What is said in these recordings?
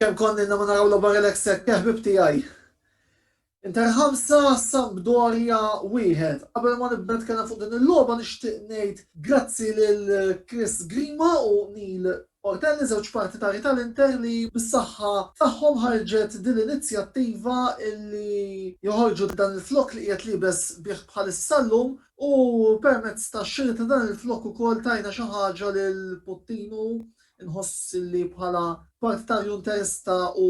Kem konni ma naraw l obar l-ek sekk, ħbib tijaj. Inter ħamsa Sampdoria wieħed. Qabel ma nibda nitkellem fuq din il-logħba nixtieq ngħid grazzi lil Chris Grima u Neil Huwa tenn iż-żewġ partitari tal-Inter li bis-saħħa tagħhom ħarġet din l-inizjattiva li joħorġu dan il-flokk li qiegħed liebes bih bħalissa llum u permezz tax-xiri ta' dan il-flokk ukoll tajna xi ħaġa lil Puttinu, inħoss li bħala partitarju Interista u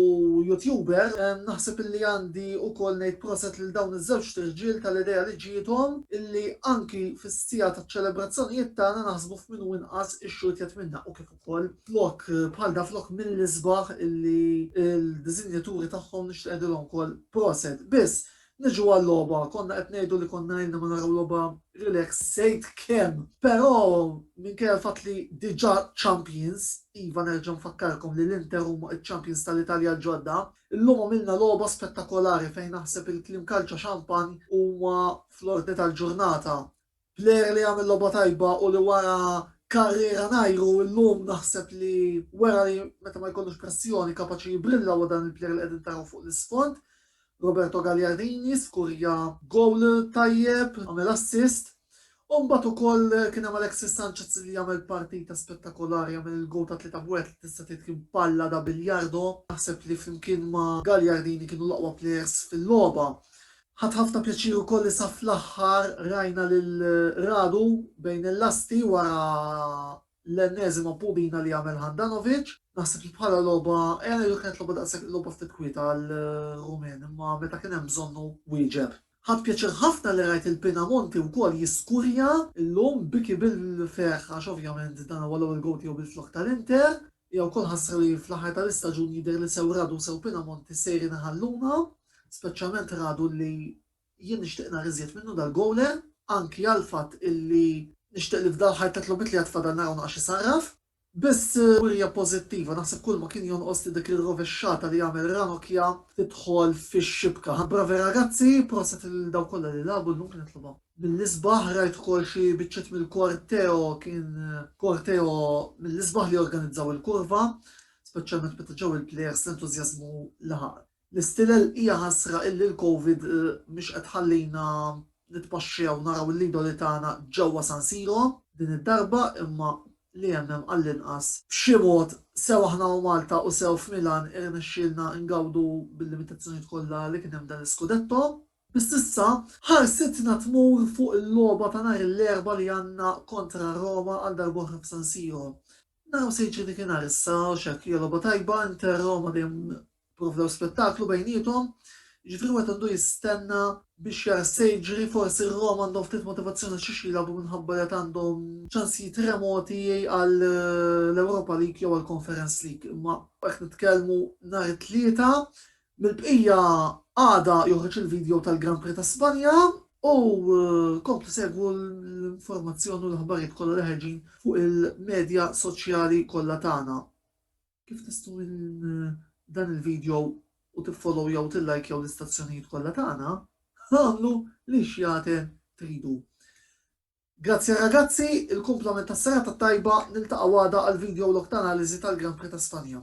YouTuber naħseb li għandi ukoll ngħid proset lil dawn iż-żewġt irġiel tal-idea li ġiethom li anki fis-siegħa taċ-ċelebrazzjonijiet tagħna naħsbu Minn u inqas ix-xogħol ittieħed minn dan u kif ukoll flok bħal dan flok mill-isbaħ illi l-diżinjaturi tagħhom nixtieq ngħidilhom ukoll proset. Biss, niġu għal-logħba, konna qed ngħidu li konna ilna ma naraw logħba relax żejt kemm. Però minkejja l-fatt li diġà champions, iva nerġa' nfakkarkom li l-Inter huma ċ-champions tal-Italja l-ġodda, illum għamilna logħba spettakolari fejn naħseb il-kliem kalċa xampanj huma fl-ordni tal-ġurnata. Player li għamel logħba tajba u li wara karriera ngħiru illum naħseb li wera li meta ma jkollux pressjoni kapaċi jibrilla huwa dan il-player li qegħdin taraw fuq l-isfond, Roberto Gagliardini, skurja goal tajjeb, għamel assist, u mbagħad ukoll kien hemm Alexis Sanchez li għamel partita spettakolari għamel il-goal ta' tlieta b'wieħed li tista' tgħid kien palla da biljardo, naħseb li flimkien ma' Gagliardini kienu l-aqwa players fil-logħba. Ħadt ħafna pjaċir ukoll li sa fl-aħħar rajna lil Radu bejn il-lasti wara l-enneżima pubina li għamel Handanovic. Naħseb li bħala logħba hija ngħidu kienet logħba daqshekk logħba ftit kwieta għar-Rumen imma meta kien hemm bżonnu wieġeb. Ħadt pjaċir ħafna li rajt lil Pinamonti wkoll jiskurja llum, biki bil-ferħ għax ovvjament dan huwa l-ewwel gowl tiegħu bil-flokk tal-Inter. Hija wkoll ħasra li fl-aħħar tal-istaġun jidher li sew Radu u sew Pinamonti sejrin iħalluna, speċjalment Radu li jien nixtieq nara iżjed minnu dal-gowler, anki għall-fatt illi nixtieq li f'dal-aħħar tliet logħbiet li għad fadal naraw naqas isarraf. Biss wirja pożittiva, naħseb kulma kien jonqos li dik ir-rovexxata li għamel Ranocchia tidħol fix-xibka. Bravi ragazzi, proset lil dawk kollha li lagħbu llum kienet logħba. Mill-isbaħ rajt ukoll xi biċċiet mill-korteo, kien korteo mill-isbaħ li organizzaw il-kurva, speċjalment meta ġew il-plejers l-entużjażmu laħaq l-istilel. Hija ħasra illi l-Covid mhix qed tħallina nitpaxxew naraw l-idoli tagħna ġewwa San Siro din id-darba imma li hemm hemm għall-inqas. B'xi mod, sew aħna u Malta u sew f'Milan irnexxielna ngawdu bil-limitazzjonijiet kollha li kien hemm dan l-iskudetto. Biss issa, ħarsitna tmur fuq il-logħba ta' nhar l-Erbgħa li għandna kontra Roma għal darb'oħra f'San Siro. Naraw se jiġri dik inhar issa, għax hekk hija logħba tajba, Inter Roma dejjem provdew spettaklu bejniethom, jiġifieri wieħed għandu jistenna biex jara x'se jiġri, forsi Roma għandhom ftit motivazzjoni għal xi xi jilagħbu minħabba li għad għandhom ċansijiet remoti għal l-Europa League jew għall-Conference League, imma hekk nitkellmu nhar it-Tlieta Mill-bqija għada joħroġ il-video tal-Grand Prix ta' Spanja u komplu segwu l-informazzjoni u l-aħbarijiet kollha li ħerġin fuq il-medja soċjali kollha tagħna. Kif tistgħu minn dan il-video u tiffollowjaw u tillajkjaw l-istazzjonijiet kollha tagħna, agħmlu l-ix jagħten tridu. Grazzi ragazzi, il-kumplament tas-serata t-tajba, niltaqgħu għada għal video log ta' analiżi tal-Grand Prix ta' Spanja.